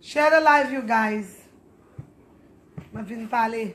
Share the live you guys Mwen vin pale.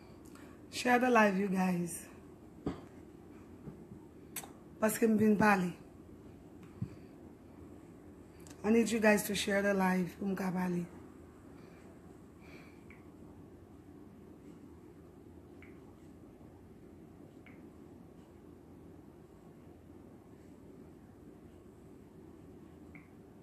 Share the live you guys. Paske m vin pale. I need you guys to share the live pou m ka pale.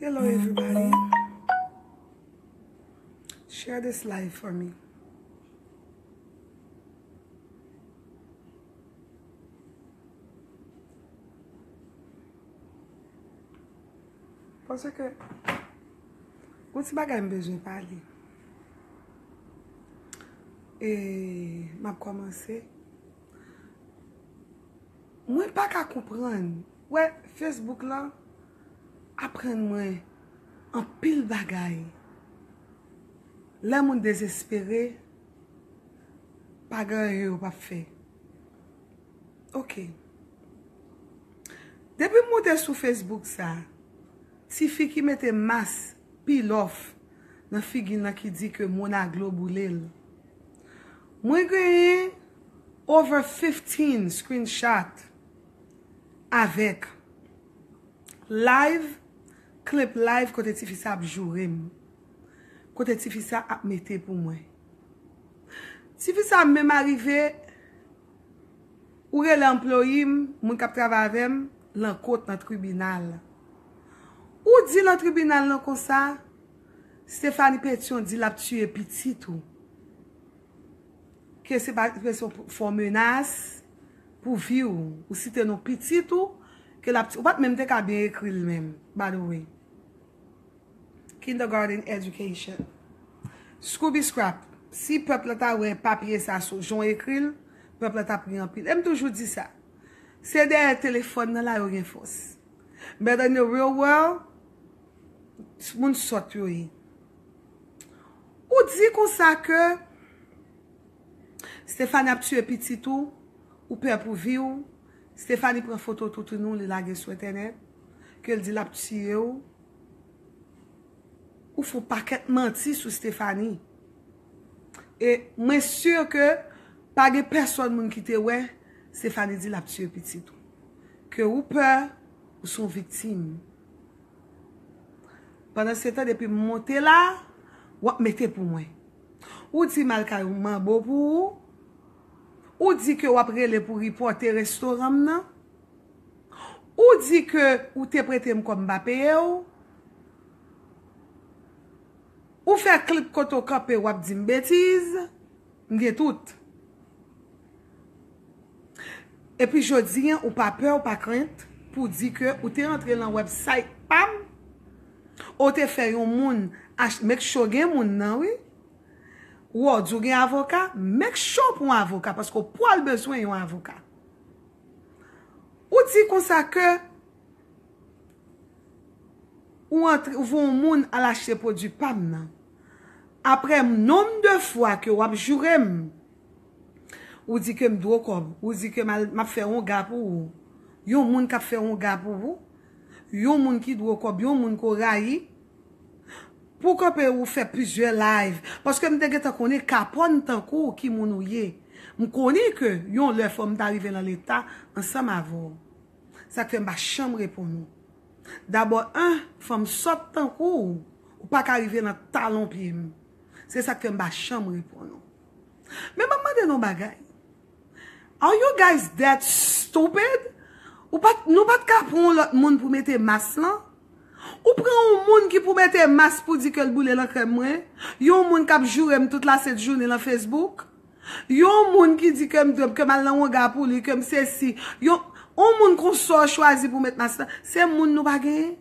Hello everybody Share this live for me Pwosè ke Ou ti bagay m bezwen pale E Map komanse Mwen paka konprann, ou wè Facebook lan aprann mwen anpil bagay. Lè moun dezespere, pa gen anyen yo pap fè. Ok. Depi m moute sou Facebook sa, tifi ki mete mask Pilòf nan figi nan ki di ke moun aglo boule l. Mwen genyen over 15 screenshot avèk live, clip live kote tifi sa ap joure m. Kote tifi sa ap mete pou mwen. Tifi sa menm arive. Ou rele anployi m, moun k ap travay avè m, lan kot nan tribinal. Ou di lan tribinal lan konsa, Stéphanie Pétion di l ap tiye pitit ou. Ke se pa ke se yon fo menas pou vi w. Ou site non pitit ou ke l ap tiye. Ou pa t menm te ka byen ekri l menm, by the way. Kindergarten education. Scooby Scrap, si pèp la ta wè papye sa sou jan w ekri l, pèp la t ap ri anpil. E m toujou di sa, se dèyè telefòn nan la yo gen fòs. But in the real world, moun sòt yo ye. Ou di konsa ke Stéphanie ap tiye pitit ou, ou pè pou vi w, Stéphanie pran foto toutouni w li lage sou entènèt, ke l di l ap tiye w. Ou fon pakèt manti sou Stephanie. E mwen sur ke pa gen pèsòn moun ki te wè Stephanie di lap tiye pitit ou. Ke ou pè, ou son viktim. Pandan se tan depi m monte la, wap mete pou mwen. Ou di mal kay ou manbo pou ou. Ou di ke wap rele pou ripote restoran m nan. Ou di ke ou te prete m kòb m pa peye w. Ou fè klip kote w kanpe w ap di m betiz. M gen tout. E pi jodi an ou pa pè ou pa krent pou di ke ou te antre lan website pa m. Ou te fè yon moun achte, make sure gen moun nan wi. Ou wè w di w gen avoka, make sure pou w avoka paske w pwal bezwen yon avoka. Ou di konsa ke ou antre, ou voye yon moun al achte pwodwi pa m nan. Apre nonm de fwa ke w ap joure m, ou di ke m dwe w kòb, ou di ke m al, m ap fè yon ga pou ou. Yon moun k ap fè yon ga pou ou, yon moun ki dwe w kòb, yon moun ke w rayi. Pou kanpe ou fè plizyè live paske m te gentan konnen kapòn tankou w ki moun ou ye. M konnen ke yon lè fò m ta rive lan leta ansanm avè w. Sa k fè m pa chanm reponn ou. Dabò 1 fanm sòt tankou w ou pa ka rive lan talon pye m. Se sa k fè m pa chanm reponn ou. Men m ap mande n yon bagay. Are you guys that stupid? Ou pat, nou pat ka pran yon lòt moun pou mete mas lan? Ou pran yon moun ki pou mete mas pou di ke l boule lankrèm mwen? Yon moun k ap joure m tout lasent jounen lan Facebook? Yon moun ki di ke m dweb, ke m al nan wonga pou li, ke m sesi? Yon, yon moun konsa w chwazi pou w met mas lan? Se moun nou pa genyen?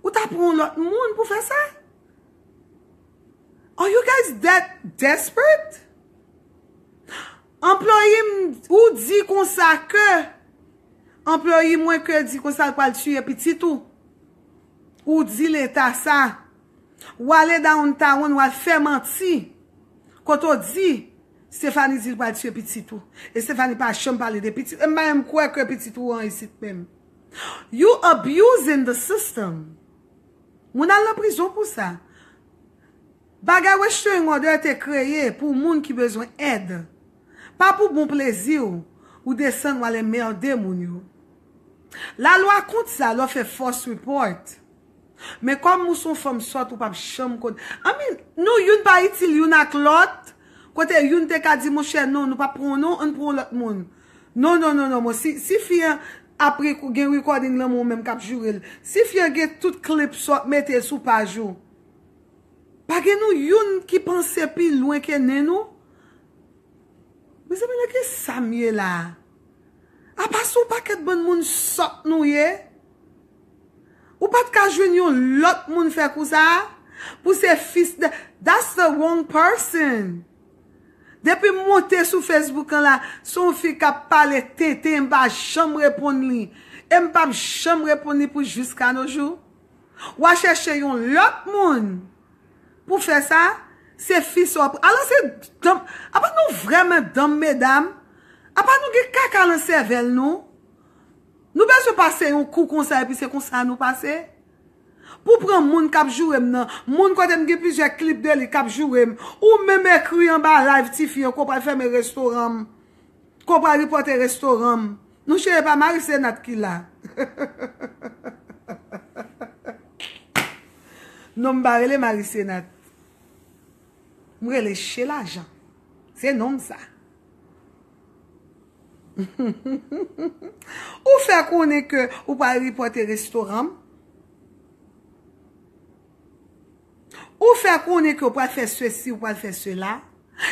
Ou ta pran yon lòt moun pou fè sa? Are you guys that desperate? Employee m ou di konsa ke Employee mwen ke di konsa l pral tiye pitit ou. Ou di leta sa. Ou ale downtown ou al fè manti. Kote ou di Stéphanie di l pral tiye pitit ou. E Stéphanie pa janm pale de pitit. E m pa menm kwè ke pitit ou an isit menm. You abusing the system. Moun al nan prizon pou sa. Bagay restraining order te kreye pou moun ki bezwen èd. Pa pou bon plezi w, ou desann wal enmerde moun yo. La lwa kont sa lè w fè false report. Men kòm ou son fanm sòt ou pap janm konn. I mean, nou youn pa itil youn ak lòt, kote youn te ka di monchè non nou pap pran w non, ann pran w lòt moun. Non non non non mwen si fi an ap gen recording lanmou ou menm kap jourel si fi an gen tout clip sa wap mete sou paj ou pa gen nou youn ki panse pi lwen ke nen nou mezanmi nan ki sam ye la apa son pakèt bann moun sòt nou ye ou pat ka jwenn yon lòt moun fè kou sa pou se fis that's the wrong person. Depim monte sou Facebook an la son fi kap pale tenten em pa janm reponn li em pap janm reponn li pou jiska no jou wa chèche yon lòt moun pou fè sa se fi sa wap alò se danm apa nou vrèman danm medam apa nou gen kaka lan sèvèl nou nou bezwen pase yon kou konsa epi se konsa nou pase. Pou pran moun kap jourem nan moun kotem gen plizyè clip de li kap jourem ou menm ekri anba live tifi an ke w pral fèmen restoran m ke w pral ripòte restoran m non cheri epa mari senat ki la non m pa rele mari senat m rele shelajan se non m sa. Ou fè konnen ke ou pral ripote restoran m. Ou fè konnen ke ou pral fè sesi, ou pral fè sela.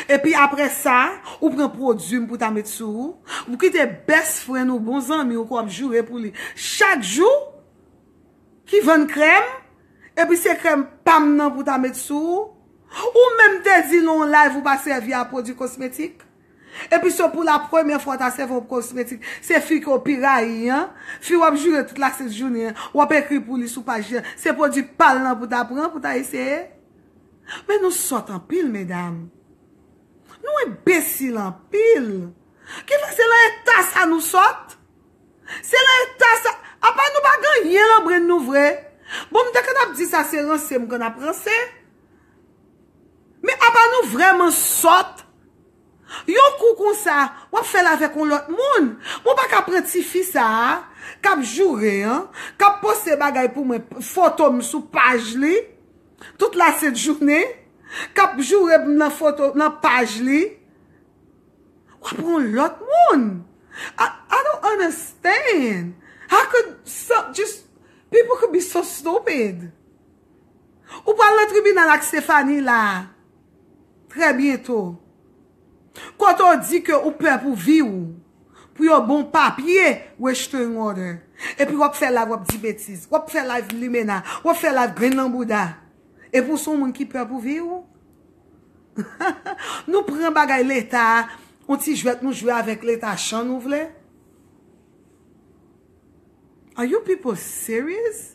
Epi apre sa, ou pran pwodwi m pou ta met sou ou. Ou kite best friend ou, bon zanmi ou ke w ap joure pou li chak jou, ki vann krèm, epi se krèm pa m nan pou ta met sou ou. Ou menm te di nan yon live ou pa sèvi a pwodwi kosmetik. Epi se pou la premye fwa w ta sèvi yon kosmetik, se fi ke w pi rayi an, fi w ap joure tout la sent jounen an, w ap ekri pou li sou paj li an, se pwodui pa l lan pou w ta pran, pou w ta eseye? Men nou sòt anpil medam. Nou enbesil anpil. Ki fè se lan eta sa nou sòt? Se lan eta sa, apa nou pa gen yen lan brenn nou vre? Bon m te konn ap di sa se ranse m konn ap ranse. Men apa nou vrèman sòt. Yon kou konsa wap fèl avèk yon lòt moun. Mwen pa ka pran ti fi sa a kap joure an, kap poste bagay pou mwen, foto m sou paj li tout la sent jounen, kap joure m nan foto, nan paj li. Wap pran yon lòt moun. I don't understand. How could some just, people could be so stupid. Ou pral nan tribinal ak Stéphanie la a trè byento. Kote w di ke ou pè pou vi w, pou yo ban w papye restraining order. Epi w ap fè live w ap di betiz. W ap fè live limena. W ap fè live grenn nan bouda. Epi w se yon moun ki pè pou vi w? Nou pran bagay leta, yon ti jwèt nou jwe avèk leta chan nou vle? Are you people serious?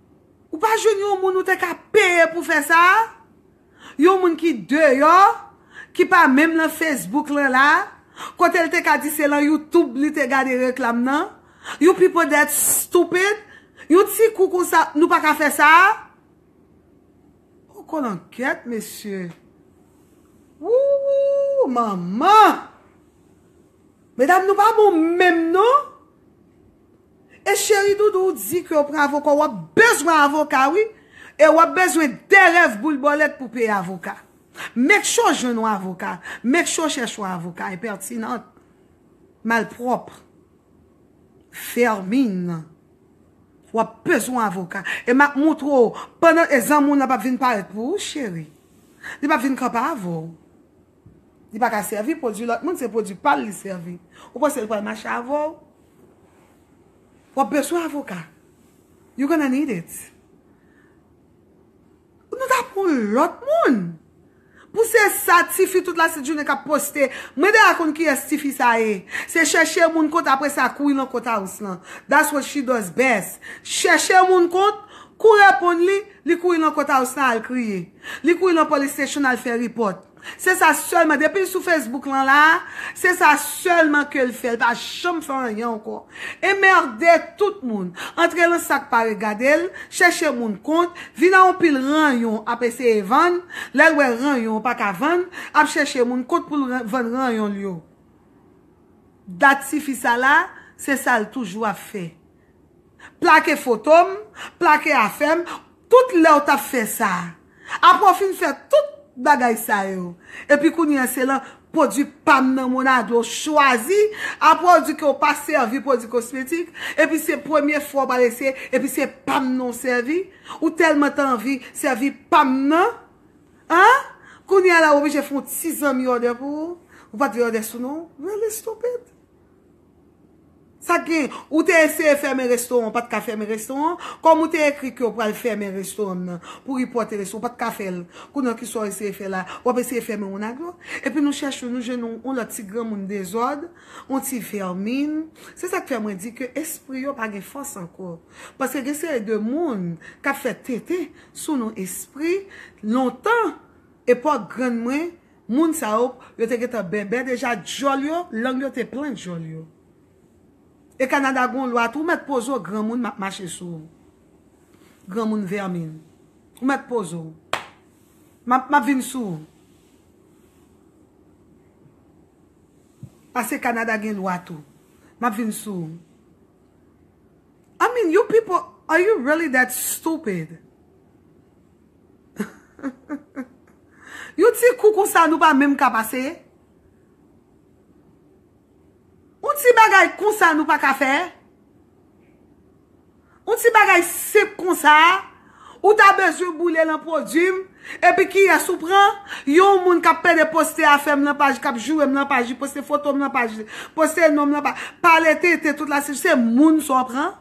Ou pa jwenn yon moun ou te ka peye pou fè sa? Yon moun ki deyò, ki pa menm lan Facebook lan la, kote l te ka di se lan YouTube li te gade reklam nan? You people that stupid, yon ti kou konsa nou pa ka fè sa? Ho kolankèt mesye! Wouwou manman! Medam nou pa bon menm non! E cheri doudou ou di kew pran avoka wap bezwen avoka wi e wap bezwen de rèv boul bòlèt pou peye avoka make sure jwenn yon avoka make sure chèche yon avoka impertinente malpwòp vermine wap bezwen yon avoka e map moutre w pandan e zanmi w lan pap vin parèt pou ou cheri li pap vin kanpe avèw li paka sèvi pwodwi lòt moun se pwodwi pal li sèvi ou panse l pral mache avèw. Wap beswen avoka. You gonna need it. Nou ta pran lot moun. Pou se sa tifi tout la jounen kap poste. Mwen deja konn kiyes tifi sa ye. Se cheche moun kont apre sa kouri lan kont house lan. That's what she does best. Cheche moun kont, kou reponn li, li kouri lan kont house lan al kriye. Li kouri lan police station al fe report. Se sa selman, depil sou Facebook lan la, se sa selman kel fè, li pa janm fè anyen ankò. Enmerde tout moun, antre lan sak pa regadel, chèche moun kont, vin a yon pil ranyon ap eseye vann, lèl wè ranyon an paka vann, ap chèche moun kont poul vann ranyonl yo. Dat tifi sa la, se sal toujou ap fè. plake foto m, plake afè m, tout lè w t ap fè sa. Apre w fin fè tout bagay sa yo, epi kounye a se lan pwodui pa m nan Monado w chwazi, apre w di ke w pa sèvi pwodui kosmetik, epi se premye fwa w pral eseye, epi se pa m nan w sèvi, ou tèlman t anvi sèvi pa m nan, an, kounye a la w oblije fè yon ti zanmi òdè pou ou, ou pa t vle òdè sou non w, really stupid. Sak gen? Ou te eseye fèmen restoran ou pat ka fèmen restoran an? Kòm ou te ekri kew pral fèmen restoran nan pou report e restoran ou pat ka fèl kounye an kisa w eseye fè la wap eseye fèmen Onagro epi nou chèche w nou jwenn yon yon lòt ti granmoun dezòd yon ti vèmin se sak fè mwen di ke espri yo pa gen fòs ankò paske gen seri de moun kap fè tenten sou nou espri lontan epòk grann mwen Moun sa yo, yo te gentan bèbè deja, dyòl yo, lang yo te plen dyòl yo. E Kanada gon lwa tou, ou mèt poze w granmoun map mache sou ou. Granmoun vèmin. Ou mèt poze w. Map map vin sou ou. Pase Kanada gen lwa tou. Map vin sou ou. I mean you people, are you really that stupid? Yon ti kou konsa nou pa menm ka pase? Yon ti bagay konsa nou pa ka fè? Yon ti bagay senp konsa ou ta bezwen boule lan pwodwi m epi kiyès ou pran? Yon moun k ap pede poste afè m lan paj li, k ap joure m lan paj li, poste foto m lan paj li, poste non m lan paj li, pale tenten tout la, se moun sa w pran?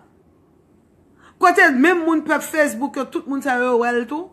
Kote menm moun pèp Facebook yo tout moun sa yo wè l tou?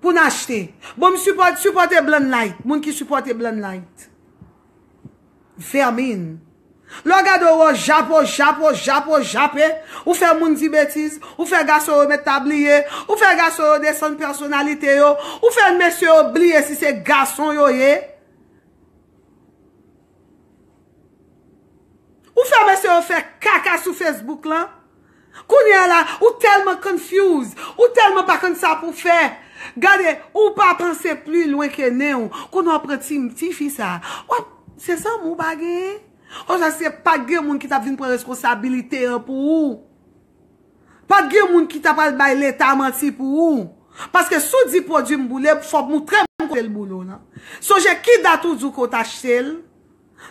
Poun achte. Bon m support supporte blan light moun ki supporte blan light. Vermin. Lè w gade w wè w jape w jape w jape w jape ou fè moun di betiz ou fè gason yo mèt ta bliye ou fè gason yo desann pèsonalite yo ou fè mesye yo bliye si se gason yo ye. Ou fè mesye yo fè kaka sou Facebook lan? Kounye a la, ou tèlman confuse, ou tèlman pa konn sa pou fè. Gade, ou pa panse pli lwen ke nen ou. Kounye a ou pran ti, ti fi sa. Ou ap, se zanmi ou pa genyen? Oswa se pa t gen moun ki t ap vin pran reskonsabilite an pou ou? Pap gen moun ki ta pral bay leta manti pou ou. Paske si w di pwodwi m boule, fò w moutre m kote l boule w lan. Sonje ki dat ou di w ke w t achte l.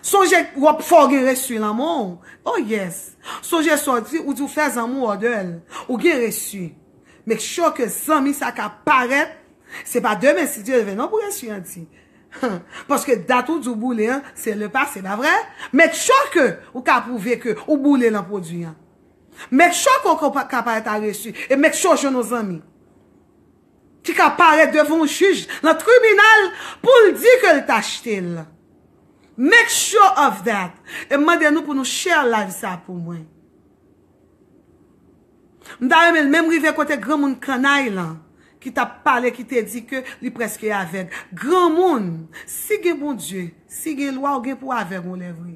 Sonje wap fò w gen resu lan men w. Oh yes. Sonje sa w di, ou di w fè zanmi w òdè l. Ou gen resu. Make sure ke zanmi sa ka parèt. Se pa demen si Dye vle non pou resu an di. Paske dat ou di w boule an, se le pase, pa vre? Make sure ke ou ka pwouve ke ou boule lan pwodwi an. Make sure ke ou ka parèt a reçu e make sure ou jwenn yon zanmi ki ka parèt devan yon jij lan tribinal pou l di ke l t achte l. Make sure of that. E m mande nou pou nou share live sa pou mwen. M ta renmen l menm rive kote granmoun kannay lan ki t ap pale ki te di ke li preske avèg. Granmoun, si gen Bondye, si gen lwa ou gen pou avèg yon lè vre.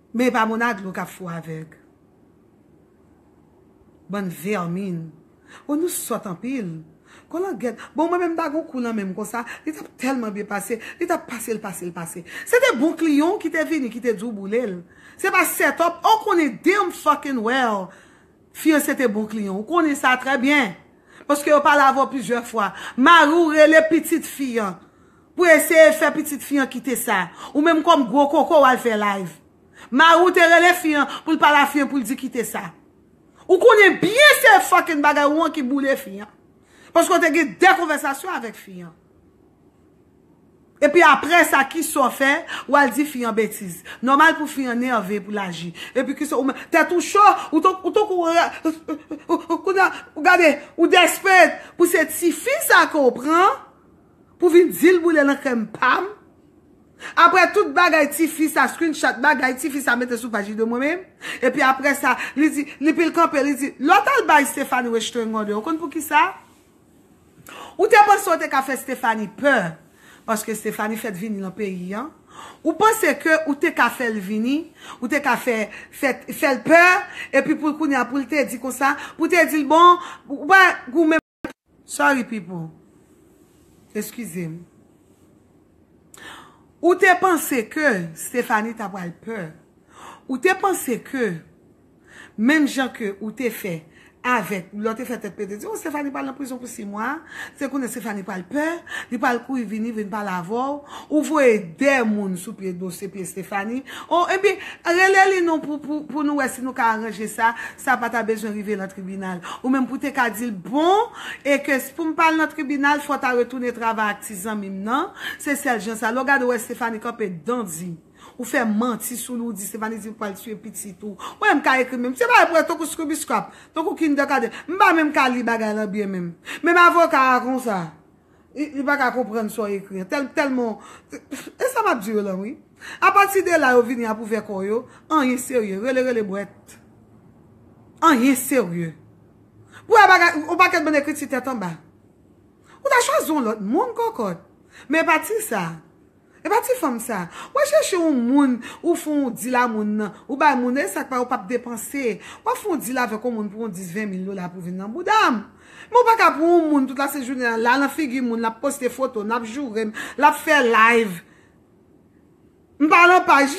Men epa mona dlo kap fou avèg. Bann vermine. Oh nou sòt anpil. Kolangyèt. Bon mwen menm m ta gon kou nan menm konsa, li tap tèlman byen pase, li tap pase l pase l pase. Se te bon kliyan w ki te vini ki te di w boule l. Se pa set up ou konnen damn fucking well fiyanse te bon kliyan w konnen sa trè byen. Paske yo pale avè w plizyè fwa. Mari w rele pitit fi an. Pou eseye fè pitit fi an kite sa. Ou menm kòm gwo koko wal fè live. Mari w te rele fi an pou l pale a fi an pou l di kite sa. Ou konnen byen se fucking bagay ou an ki boule fi an. Paske w te gen 2 konvèsasyon avèk fi an. Epi aprè sa kisa w fè wal di fi an betiz. Nòmal pou fi an nève pou l aji. Epi kisa ou menm tèt ou cho ou tankou ou gade ou desperate pou se tifi sa ke w pran Pou vin dil boule nan krèm pam. Aprè tout bagay tifi sa screenshot bagay tifi sa mete sou paj li de mwen menm epi aprè sa li di li pil kanpe li di lè w tal bay Stéphanie Westergaarde ou konn poukisa ou te panse ou te ka fè Stéphanie pè paske Stéphanie fèt vini nan peyi an ou panse ke ou te ka fè l vini ou te ka fè fè l pè epi pou l kounye a pou l te di konsa pou te di l bon ou pa goumen. Sorry people. Excusez m. Ou te panse ke Stephanie ta pral pè. Ou te panse ke menm jan ke ou te fè avèk, lè w te fè tèt pete di w Stephanie pral nan prizon pou 6 mwa, se kounye Stephanie pral pè, li pral kouri vini vin pale avè w. Ou voye 2 moun sou pye dosye pye Stephanie. Oh ebyen rele li non pou nou wè si nou ka aranje sa, sa pa ta bezwen rive lan tribinal. Ou menm pou te ka di l bon e ke si pou m pa al nan tribinal fò w ta retounen travay ak ti zanmi m nan, se sèl jan sa. Lè w gade w wè Stéphanie kanpe dan di ou fè manti sou li ou di Stéphanie di ou pral tiye pitit ou. Ou wè m ka ekri menm se bagay pou wè tankou scribiscrap, tankou kindergarten. M pa menm ka li bagay lan byen menm. Menm avoka a konsa. Li pa ka konprann sa w ekri an. Tèlman w. E sa m ap di yo lan wi. Apati de la yo vini ap ouvè kò yo. Anyen serye. Rele rele bwèt. Anyen serye. Pou wè bagay. Yon pakèt bann ekriti tèt anba. Ou ta chwazi yon lòt moun kòkòt. Men pati sa. Epa ti fanm sa. Wal chèche yon moun ou fon yon dil a moun nan. Ou bay moun e sak pa ou pap depanse. Wap fon yon dil avèk yon moun pou yon 10 20 mil dola pou vin nan boudam. Men ou paka pou yon moun tout la se jounen an la nan figi moun lap poste foto nap jourem lap fè live mpa nan paj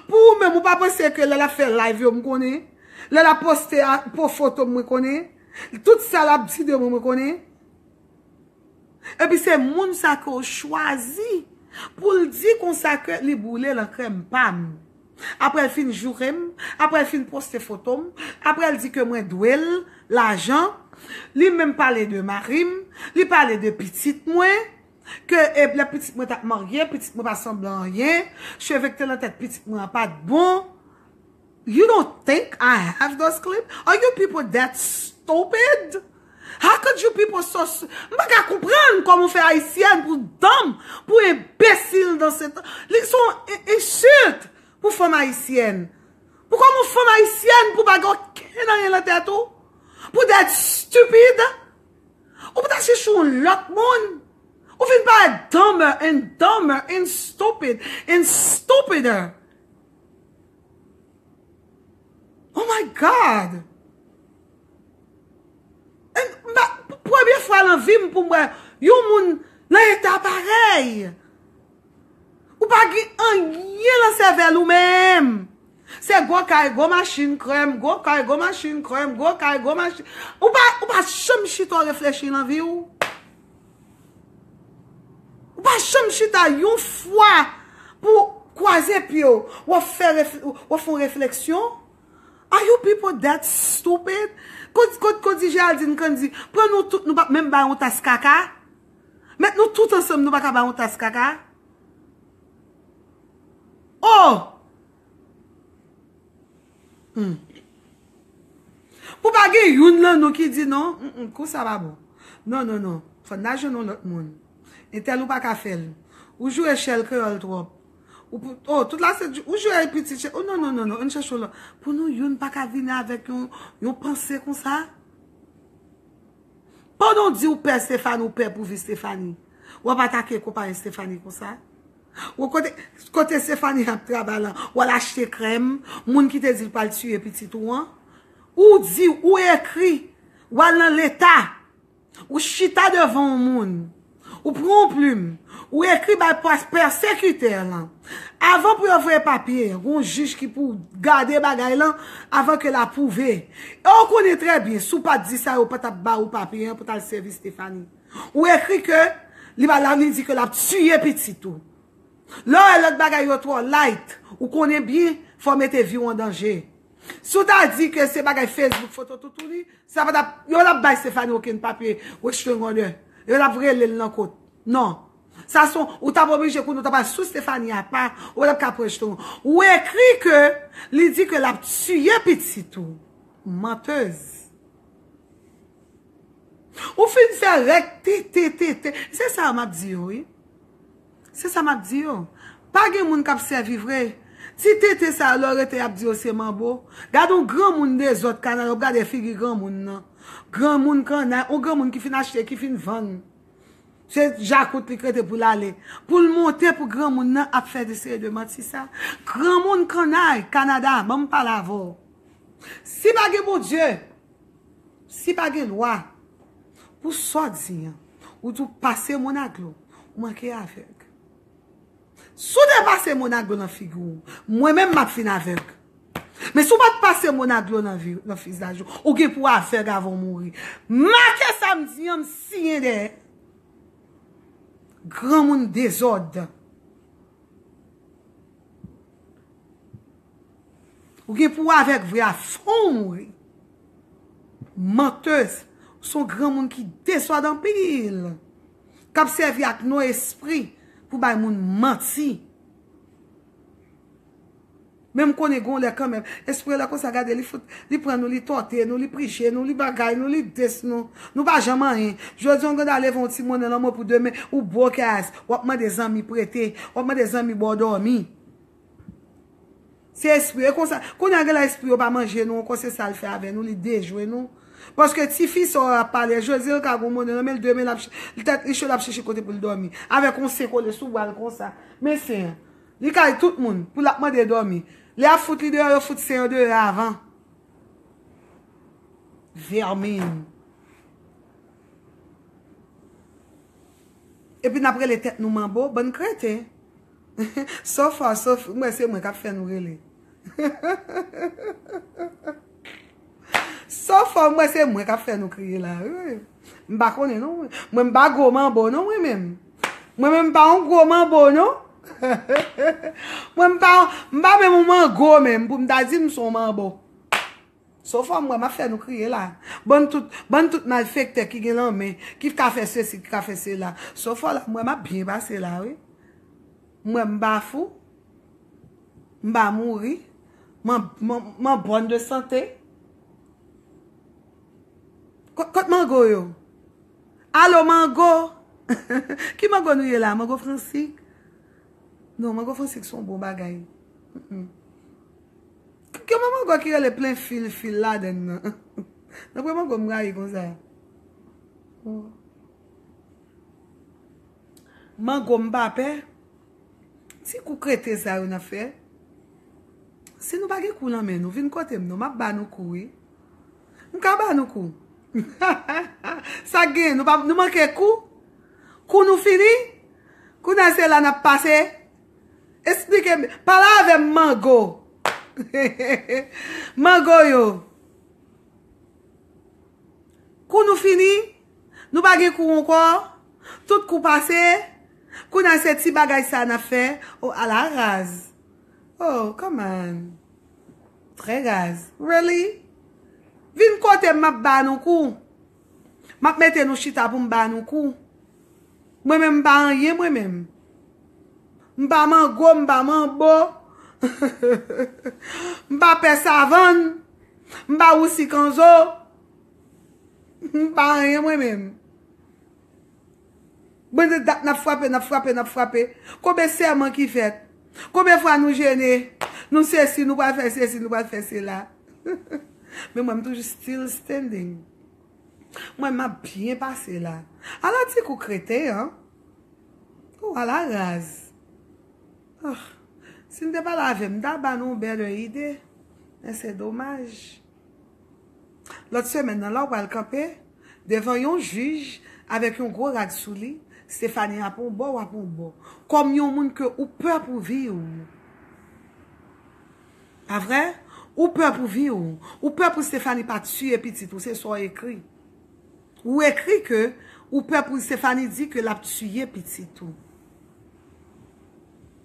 pou ou menm ou pa panse ke lè lap fè live yo mkonnen lè lap poste a po fotom mwen konnen tout sa lap di de mwen mwen konnen. Epi se moun sa ke w chwazi pou l di konsa ke li boule lan krèm pa m. Apre l fin joure m, apre l fin poste foto m, apre l di ke mwen dwe l lajan, li menm pale de mari m, li pale de pitit mwen, ke lè pitit mwen t ap marye, pitit mwen pa sanble anyen, cheve ki te lan tèt pitit mwen an pa t bon. You don't think I have those clip? Are you people that stupid? How could you people so s m pa ka konprann kòman w fè ayisyèn pou danm pou enbesil dan se tan li son e ensilt pou fanm ayisyèn pou kòman w fanm ayisyèn pou w pa gen okenn anyen nan tèt ou pou that stupid ou pou ta chèche yon lòt moun ou fin parèt dumber and dumber and stupid and stupider Oh my God! Premye fwa nan vi m pou m wè yon moun nan eta parèy. Ou pa gen anyen nan sèvèl ou menm. Se gwo kay, gwo machin, krèm, gwo kay, gwo machin, krèm, gwo kay, gwo machin. Ou pa chanm chita w reflechi nan vi w? Ou pa janm chita yon fwa pou kwaze pye w, wap fon refleksyon? Are you people that stupid? Kot di Géraldine Candy, pran nou tout nou pap menm bay yon tas kaka? Met nou tout ansanm nou paka bay yon tas kaka? Oh! Humm. Pou pa gen youn lan nou ki di non, humm kou sa pa bon. Non non non, fò n ta jwenn yon lòt moun. Entèl ou pa ka fè l. Ou joure chèl kreyòl twòp. Oh, tout la se, ou joure pitit chèl. Oh non non non non, an n chèche yon lòt. Pou nou youn pa ka vini avèk yon panse kon sa? Pandan w di ou pè Stéphane, ou pè pou vi Stéphanie, w ap atake konpayi Stéphanie kon sa? Wo kote kote Stéphanie ap travay lan ou al achte krèm moun ki te dil pral tiye pitit ou an ou di ou ekri ou al nan leta ou chita devan yon moun ou pran yon plim ou ekri bay pèsekitè lan avan pou yo voye papye gon jij ki pou gade bagay lan avan ke l apwouve e ou konnen trè byen si w pat di sa yo pa tap ba ou papye an pou tal sèvi Stéphanie. Ou ekri ke li pa la li di ke lap tiye pitit ou. Lè w wè lòt bagay yo twò light, ou konnen byen fò w mete vi w an danje. Si w ta di ke se bagay Facebook, foto toutouni, sa pa tap, yo tap bay Stéphanie okenn papye restraining order. Yo tap rele l nan kot. Non. Sa son, ou tap oblije konnen w tap al sou Stéphanie apa, ou tap ka pran restraining order. Ou ekri ke li di ke lap tiye pitit ou. Menteuse. Ou fin fè rèk TTTT. Se sa yo m ap di yo wi. Se sa m ap di yo. Pa gen moun k ap sèvi vre. Ti tete sa yo lè yo rete y ap di yo se manbo. Gade yon granmoun dezòd kanal ou gade figi granmoun nan. Granmoun kannay, yon granmoun ki fin achte, ki fin vann. Se djakout li k rete pou l ale. Pou l monte pou granmoun nan ap fè de seri de manti sa. Granmoun kannay, Kanada, ban m pale avè w. Si pa gen Bondye. Si pa gen lwa pou sa w di an, ou tou pase moun ak dlo, ou manke avèg. Si w te pase moun ak dlo nan figi w, mwen menm m ap fin avèg. Men si w pa t pase moun ak dlo nan fizaj ou, ou gen pou w avèg avan w mouri. Make sa m di an, m siyen dèyè. Granmoun dezòd. Ou gen pou avèk vre a fonw mouri. Manteuz, ou son granmoun ki desòd anpil. Kap sèvi ak non espri pou bay moun manti. Men m konnen gon lè kanmenm. Espri yo lè konsa gade li fout, li pran nou, li tòte nou, li prije nou, li bagay nou, li des nou. Nou pa janm anyen. Jodi on gen dwa leve on ti monnen lanmò pou demen ou broke ass, wap mande zanmi prete, wap mande zanmi baw dòmi. Se espri yo, e konsa, kounye a gen lè espri yo pa manje nou ankò, se sa l fè avè nou, li dejwe nou. Paske ti fi sa w ap pale a, Jozye ka gen yon mòne nan men l, de men l ap chèche, tèt li cho l ap chèche kote pou l dòmi. Avèk yon sen kole sou bra l konsa. Men sen an. Li kay tout moun, pou l ap mande dòmi. Lè y ap fout li deyò, yo fout sen an deyò avan. Vèmin. Epi n ap rele tèt nou manbo, bann kreten. So far so few mwen se mwen kap fè nou rele So far mwen se mwen kap fè nou kriye la M pa konnen non mwen m pa gwo manbo non mwen menm Mwen menm m pa yon gwo manbo non Mwen m pa yon m pa menm yon mango menm pou m ta di m son manbo. So fam wè map fè nou kriye la. Bann tout bann tout malfektè ki gen lan men ki ka fè sesi ki ka fè sela. So fò la m wè map byen pase la wi. M wè m pa fou. M pa mouri. M an bòn de sante. Kot mango yo. Alo mango. Ki mango nou ye la. Mango fransik. Non mango fransik son bon bagay. Gen yon mango ki rele plen fil fil ladann nan. Nan pwen mango m rayi konsa. Mango m pa pè. Ti kou krete sa yo nan fè. Si nou pa gen kou nan men nou, vin kote m non. M ap ba nou kou wi. M ka ba nou kou. Sa k gen? Nou manke kou? Kou nou fini? Kounye a se la n ap pase? Esplike m, pale avè m mango. Mango yo. Kou nou fini, nou pa gen kou ankò, tout kou pase, kou nan se ti bagay sa nan fè, o oh, ala raz. O, oh, come on. Trè raz. Really? Vin kote m map ba nou kou. Map mete nou chita pou m ba nou kou. Mwen menm m pa anyen mwen menm. M pa mango, m pa manbo. M pa pè savann. M pa wousi kanzo. M pa anyen mwen menm. Bon de dat nap frape, nap frape, nap frape. Konbe sèman ki fèt. Konbe fwa nou jene. Nou sesi, nou pral fè sesi, nou pral fè sela. Men mwen m toujou still standing. Mwen map byen pase la. A la ti kou kreten an. Ou a la raz. Si n te pale avè m, m ta ba nou better ide. Men se domaj. Lòt semèn nan la ou pral kanpe devan yon jij avèk yon gwo rad sou li, Stéphanie ap yon bò ou ap yon bò, kòm yon moun ke ou pè pou vi ou. Pa vre? Ou pè pou vi ou. Ou pè pou Stéphanie pa tiye pitit ou, se sa ou ekri. Ou ekri ke ou pè pou Stéphanie di ke lap tiye pitit ou.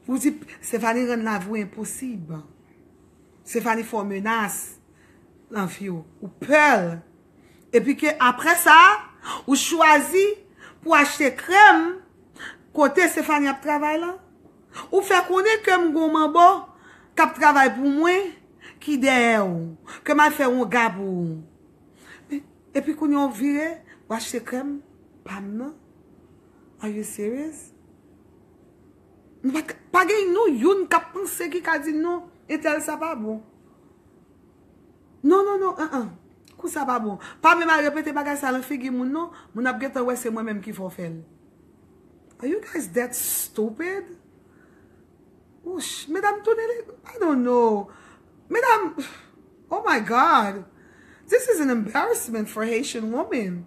Ou di Stéphanie rann lavi ou enposib. Stéphanie fè w menas nan vi w. Ou pè l. Epi ke apre sa, ou chwazi pou achte krèm kote Stéphanie ap travay lan. Ou fè konnen ke m gon manbo k ap travay pou mwen ki dèyè w. Ke m al fè wonga pou ou. Epi kounye a w vire, w achte krèm pa m nan? Are you serious? Pa gen nou youn kap panse ki ka di non entèl sa pa bon. Non, non, non, an an. Kou sa pa bon. Pa menm al repete bagay sa lan figi moun non. Moun ap gentan wè se mwen menm ki fè w fèl. Are you guys that stupid? Wouch, medam tounen li, I don't know. Medam, oh my God. This is an embarrassment for Haitian woman.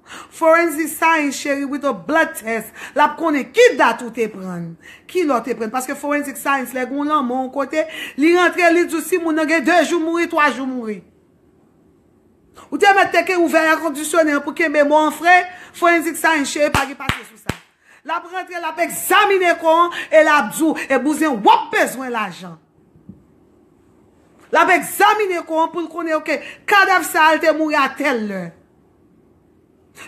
Forensic science cheri with a blood test lap konnen ki dat ou te prann, ki lè w te prann paske forensic science lè gen yon lanmò yon kote li rantre li di w si moun nan gen 2 jou mouri 3 jou mouri. Ou te mèt teke ouvè air conditionne an pou kenbe mò an fre, forensic science cheri pa gen papye sou sa. Lap rantre lap egzamine kò an e lap di w e bouzen wap bezwen lajan. Lap egzamine kò an pou l konnen ok kadav sa al te mouri a tèl lè.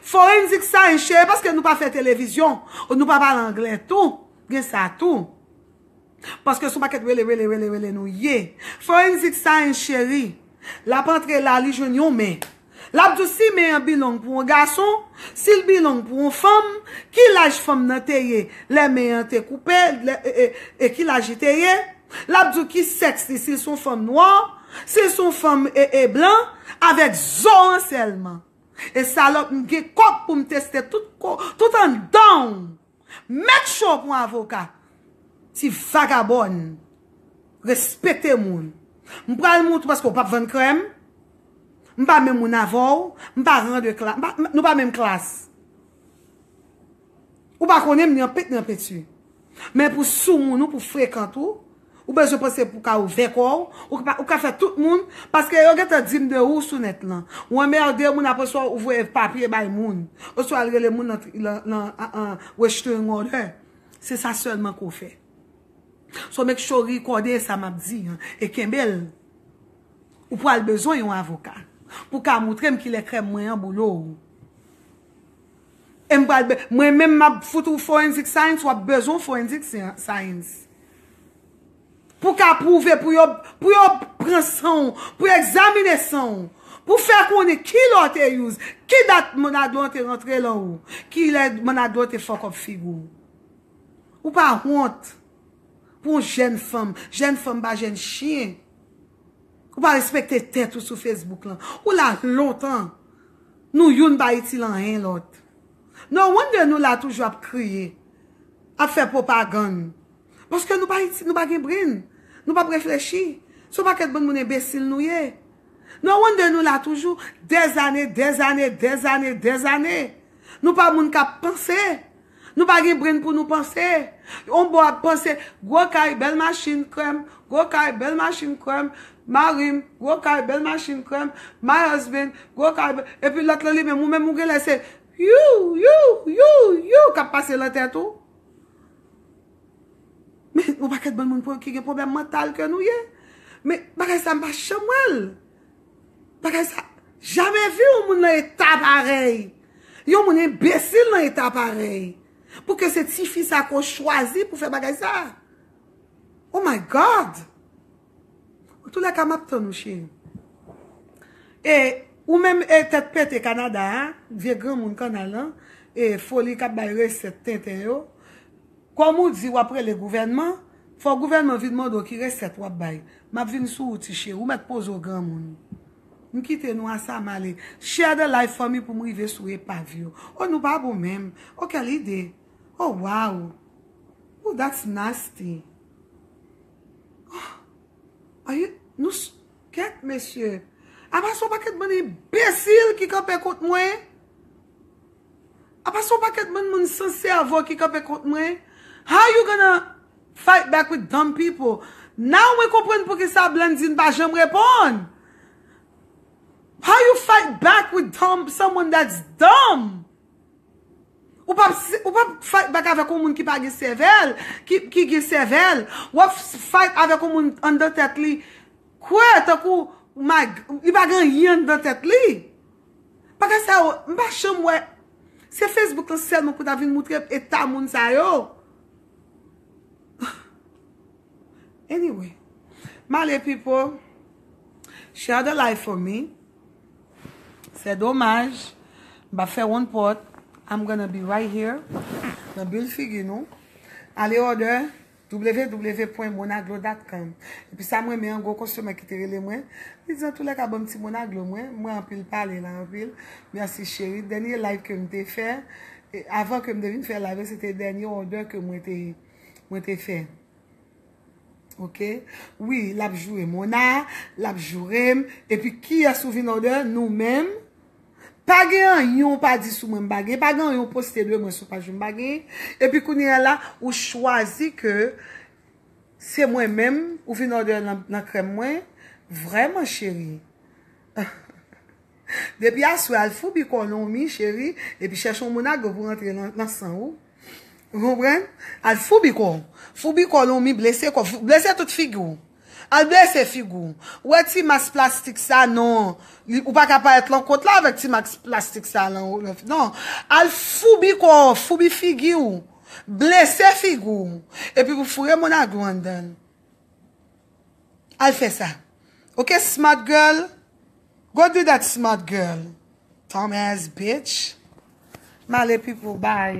Forensic science cheri paske nou pa fè televizyon ou nou pa pale anglè tou gen sa tou paske son pakèt rele rele rele rele nou ye forensic science cheri lap antre la li jwenn yon men lap di w si men an bilong pou yon gason si l bilong pou yon fanm ki laj fanm nan te ye lè men an te koupe e ki laj li te ye. Lap diw ki sèks li sil son fanm nwa, sil son fanm ee blan, avèk zo an sèlman. E salòp m gen kòk poum teste tout ko tout andanw. Met cho pou avoka. Ti vagabòn. Respekte moun. M pral moutre paske ou pap vann krèm. M pa menm moun avèw, m pa ran de klas, nou pa menm klas. Ou pa konnen m nan pent nan penti. Men pou soumoun ou, pou frekant ou, ou bezwen panse pou ka ouvè kò ou, ou ka fè tout moun, paske yo gen tan di m de ou sou nèt lan. Ou anmerde moun apre sa ou voye papye bay moun, oswa al rele moun lan restraining order. Se sa sèlman ke w fè. So make sure ou rekòde sa m ap di an, e kenbe l. Ou pral bezwen yon avoka pou ka moutre m kilè krèm mwen an boule w. E m pral mwen menm map fout ou forensic science wap bezwen forensic science pou w ka pwouve pou yo pou yo pran san w pou yo egzamine san w pou fè konnen ki lè w te use ki dat mnadlo an te rantre lan ou ki lè mnadlo te fuck up figure w ou pa wont pou yon jèn fanm jèn fanm pa jèn chyen ou pa respekte tèt ou sou facebook lan ou la lontan Nou youn pa itil anyen lòt. No wonder nou la toujou ap kriye, ap fè pwopagann. Paske nou pa itil, nou pa gen brenn. Nou pap reflechi. Se yon pakèt bann moun enbesil nou ye. No wonder nou la toujou, dèzane, dèzane, dèzane, dèzane. Nou pa moun kap panse. Nou pa gen brain pou nou panse. On bò ap panse, gwo kay, bèl machin, krèm, gwo kay, bèl machin, krèm, mari m, gwo kay, bèl machin, krèm, my husband, gwo kay, bèl, epi lòt lan li menm, ou menm ou genlè se you, you, you, you k ap pase lan tèt ou. Men, yon pakèt bann moun ki gen pwoblèm mantal ke nou ye. Men, bagay sa m pa janm wè l. Bagay sa, jamè vu yon moun nan eta parèy. Yon moun enbesil nan eta parèy. Pou ke se ti fi sa kon chwazi pou fè bagay sa. Oh my God! An tou lè ka map tann ou cheri. E ou menm e tèt pete Kanada a, vye granmoun kanal lan, e foli kap bay resèt tenten yo. Kòm ou di wap rele gouvènman, fò gouvènman vin mande w ki resèt wap bay. Map vin sou ou ti cheri, ou mèt poze w granmoun. M kite nou a sa m ale. Share the live for me pou m rive sou epav yo. Oh nou pa bon menm. Oh kèl ide. Oh wow. Ooh that's nasty. Ohh are you nou s kèt mesye. Apa son paket bann enbesil ki kanpe kont mwen. Apa son paket bann moun san sèvo ki kanpe kont mwen? How you gonna fight back with dumb people? Now mwen konprann poukisa Blandine pa janm reponn! How you fight back with dumb, someone that's dumb? Ou pap ou pap fight back avèk yon moun ki pa gen sèvèl, ki ki gen sèvèl, wap fight avèk yon moun anndan tèt li kwè tankou my li pa gen anyen anndan tèt li. Bagay sa yo, m pa janm wè. Se Facebook lan sèlman pou ta vin moutre eta moun sa yo. Anyway. M ale pipo. Share the live for me. Se domaj. M pa fè wonn pòt. I'm gonna be right here. Nan bil figi nou. Ale order. www.monaglo.com Epi sa m renmen an gwo kostomè ki te rele mwen, li di antoulèka banm ti monaglo mwen, mwen anpil pale la anpil, merci chérie, dènye live ke m te fè, avan ke m te vin fè live la se te dènye òdè ke mwen te mwen te fè ok, wi lap joure mona, lap joure m, epi kiyès ou vin òdè, nou menm, Pa gen anyen ou pa di sou mwen m pa gen, pa gen anyen ou poste de mwen sou paj ou m pa gen, epi kounyea la ou chwazi ke se mwen menm ou vin òdè nan krèm mwen, vrèman cheri. Depi aswè al foubi kò w nan yon mi cheri, epi chèche yon moun agwe pou rantre nan san ou. Ou konprann? Al foubi kò w. Foubi kò w nan yon mi, blese kò w, blese tout figi w. Al blese figou. Ou wè ti mask plastik sa non ou pa ka parèt lan kot la avèk ti mask plastik sa lan non al foubi kò w foubi figi w blese figou w epi pou foure mon aglou anndan l al fè sa ok smart girl go do that smart girl dumb ass bitch male pipo bay.